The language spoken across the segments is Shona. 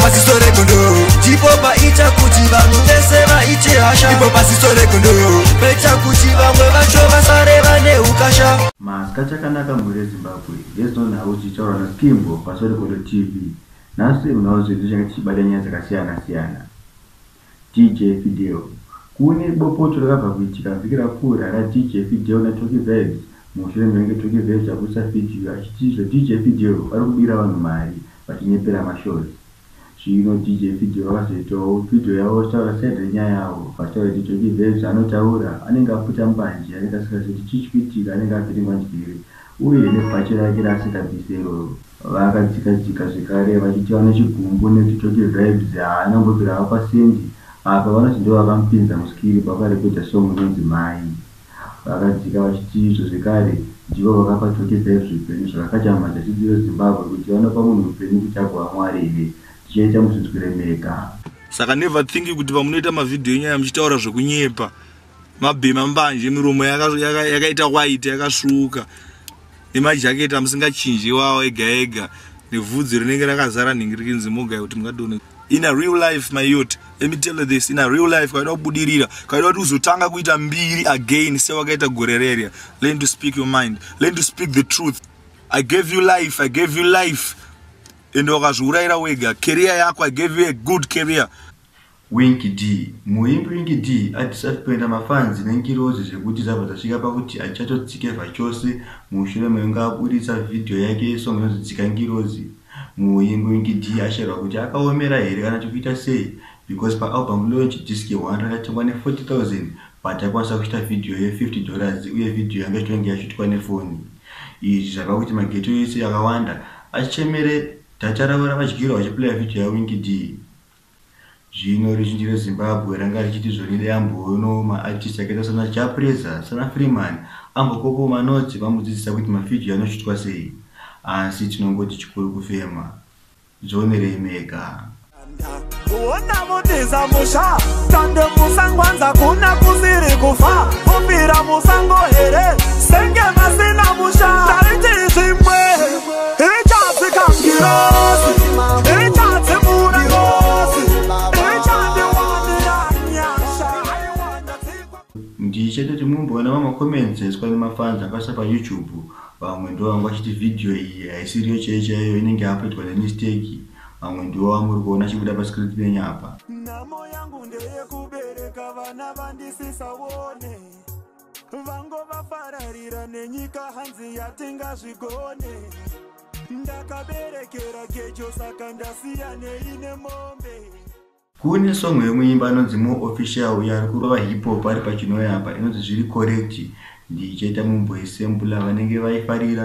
Pasiso regondo Chipo paita kuti vanhu vese vaite hasha Ipo pasiso regondo Paita kuti vamwe vacho vasare vane ukasha Maska chakanaka mhuri yeZimbabwe There's no nhau chichaurwa naSkimbo paSorekondo TV Nhasi munhau zvedu tichanga tichibata nyaya dzakasiyana siyana DJ Fideo. Kune bopoto rakabva kuitika vhiki rapfuura raDJ Fideo naTocky Vibes mushure mekunge Tocky Vibes abudisa vhidhiyo achiti izvo DJ Fideo vari kubira vanhu mari vachinyepera mashows. Zvino DJ Fideo vakazoitawo vhidhiyo yavo vachitaura side renyaya yavo vachitaura kuti Tocky Vibes anotaura anenge aputa mbanje anenge asingazii kuti chii chikuitika anenge avhiringwa njere Uye nebhachi rake raasikabvise iroro. Vakadzika dzika zvekare vachiti vane chigumbu nekuti Tocky Vibes haana kumbobvira avapa cent apa vanoti ndivo vakamupinza muskiri pavakarekodha song inonzi Mai. Vakadzika vachiti izvo zvekare ndivo vakapa Tocky Vibes upenyu zvakakatama tachiziva Zimbabwe kuti vanopa munhu upenyu kuti agova Mwari here tichaita muzvinzwire mega. Saka never think kuti pamunoita mavideo enyaya muchitaura zvekunyepa mabhema mbanje miromo yakaita waiti yakasvuuka nemajaketi amusingachinji iwawo ega ega nevhudzi rinenge rakazara nhingi rikinzi mogai kuti mungadone in a real life my yot let me tell you this in a real life kwaida kubudirira kwaida kuti uzotanga kuita mbiri again sewakaita gore rerya learn to speak your mind learn to speak the truth i gave you life i gave you life ende wakazviurayira wega career yako i gave you a good career Winky Dee, Muimbi Winky Dee atisati kuenda mafans nengirozi zvekuti dzabva dzasvika pakuti hachatotsike zvachose mushure mekunge aburitsa video yake yesong inonzi Tsika Ngirozi. Muimbi Winky Dee ashairwa kuti akaomera here kana kuti kuita sei because pa album launch disc one rakatengwa ne 40,000 but akwanisa kushuta video ye 50 dollars uye video yanga ichitonge yashutwa nefoni. Izvi zvapa kuti ma ghetto ese akawanda achemere data ravo ravadyirwa vachiplayer video ya Winky Dee. Zvino ruzhinji rweZimbabwe ranga richiti Zwelele amboonawo maArtist akaita sana Jah Prayzah, sana Freeman, Ambo Popo Manotsi vamudzidzisa kuti maFidyo anoshutwa sei. Asi tinongoti chikuru kufema. Zvionerei mega. Kuona mutiza musha tande musangwanza kuna kusiri kufa vofira musango here senge vasina musha tariti zvimwe ndichetoti mumboona vamacomments aiswa nemafans akasa payoutube vamwe ndo vanga vachiti vhidhiyo iyi haisiriyo chaiyo chaiyo inenge yapoitwa nemisteki vamwe ndo vamuri kuona chibuda pascrit penyu apa nhamo yangu ndeyekubereka vana vandisisaone vango vafararira nenyika hanzi yatingazvigone ndakaberekera gejo saka ndasiyanei nemombe kune song yemuimba anonzi mo official uyo ari kurova hiphop ari pachinoyapa inonzi zviri correct ndichaita mumbo esembula vanenge vaifarira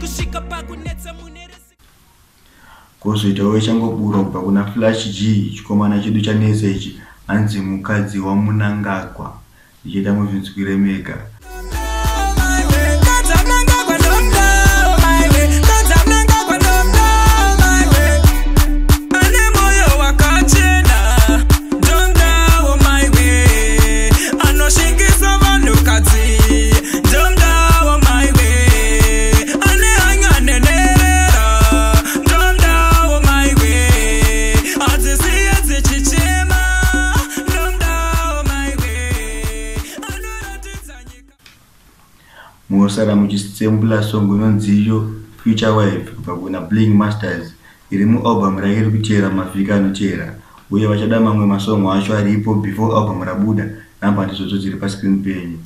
kusvika pakunetsa mune kozoitawo ichangoburwa kubva kuna flash g chikomana chedu chanetsa ichi hanzi mukadzi wamunangagwa ndichida muzvinzwire mega munosara muchisembula song inonzi iyo future wife kubva kuna bling masters iri mualbum rake iri kuchera mavhiki anochera uye vachada mamwe masongo acho aripo before album rabuda namba ndizodzo dziri pascreen penyu